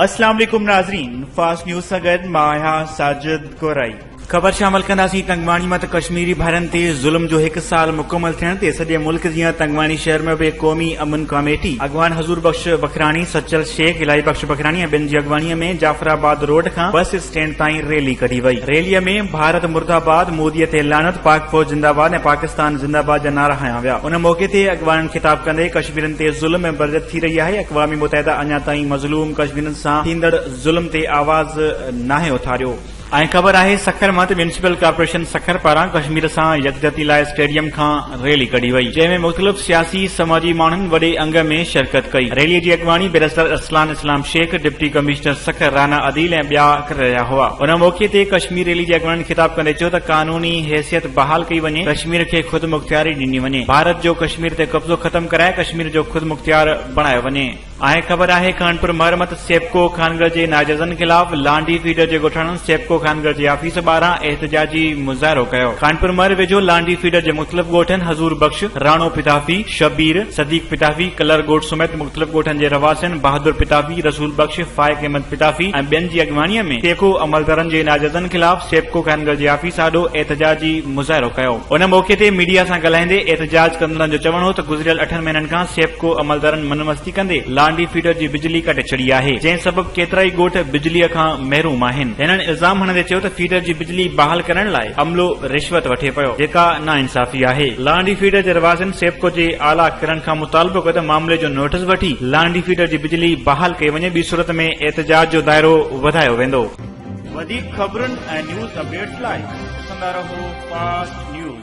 اسلام عليڪم ناظرين فاسٽ نيوز سان گڏ مان آهيان ساجد گورائي خبر شامل ڪنداسين تنگواڻي مان ته ڪشميري ڀائرن تي ظلم جو هڪ سال مڪمل ٿيڻ تي سڄي ملڪ جيان تنگواڻي شهر ۾ به قومي امن ڪاميٽي اڳواڻ حضور بخش بکراڻي سچل شيخ الهي بخش بکراڻي ۽ ٻين جي اڳواڻي ۾ جعفر آباد روڊ کان بس اسٽينڊ تائين ريلي ڪڍي وئي، ريلي ۾ ڀارت مرده آباد، مودي تي لعنت، پاڪ فوج زنده آباد ۽ پاڪستان زنده آباد جا نعرا هنيا ويا، ان موقعي تي اڳواڻن خطاب ڪندي ڪشميرين تي ظلم ۽ برجت ٿي رهي آهي، اقوام متحده اڃا تائين مظلوم ڪشميرين سان ٿيندڙ ظلم تي آواز ناهي اٿاريو. ۽ خبر آهي سکر مان ته ميونسپل ڪارپوريشن سکر پاران ڪشمير سان يڪجهتي لاء اسٽيڊيم کان ريلي ڪڍي وئي جنهن ۾ مختلف سياسي سماجي ماڻهن وڏي انگ ۾ شرڪت ڪئي ريلي جي اڳواڻي barrister Arsalan Islam Shaikh deputy commissioner Sukkur Rana Adeel ۽ ٻيا ڪري رهيا هئا ان موقعي تي ڪشمير ريلي جي اڳواڻن خطاب ڪندي چيو ته قانوني حيثيت بحال ڪئي وڃي ڪشمير کي خودمختياري ڏني وڃي ڀارت جو ڪشمير تي قبضو ختم ڪرائي ڪشمير جو خودمختيار بڻايو وڃي. آهي خبر آهي خانپور مرمت سيپڪو خانگر جي ناجائزن خلاف لانڍي فيڊر جي ڳوٺاڻن سيپڪو خانگر جي آفيس ٻاهران احتجاجي مظاهرو ڪيو خانپور مر ويجهو لانڍي فيڊر جي مختلف ڳوٺن حضور بخش راڻو پتافي شبير صديق پتافي ڪلر ڳوٺ سميت مختلف ڳوٺن جي رهواسين بهادر پتافي رسول بخش فائق احمد پتافي ۽ ٻين جي اڳواڻي ۾ سيپڪو عملدارن جي ناجائزن خلاف سيپڪو خانگر جي آفيس آڏو احتجاجي مظاهرو ڪيو. ان موقعي تي ميڊيا سان ڳالهائيندي احتجاج ڪندڙن جو چوڻ هو ته گذريل اٺن مهينن کان سيپڪو عملدارن من مستي ڪندي لانڍي فيڊر جي بجلي ڪٽي ڇڏي آهي جنهن سبب ڪيترائي ڳوٺ بجلي کان محروم آهن هنن الزام هڻندي چيو ته فيڊر جي بجلي بحال ڪرڻ لاء عملو رشوت وٺي پيو جيڪا ناانصافي آهي لانڍي فيڊر جي رهواسين سيپڪو جي اعليٰ ڪرن کان مطالبو ڪيو ته معاملي جو نوٽس وٺي لانڍي فيڊر جي بجلي بحال ڪئي وڃي ٻي صورت ۾ احتجاج جو دائرو وڌايو ويندو. وڌيڪ خبرن ۽ نيوز اپڊيٽس لاء ڏسندا رهو فاسٽ نيوز.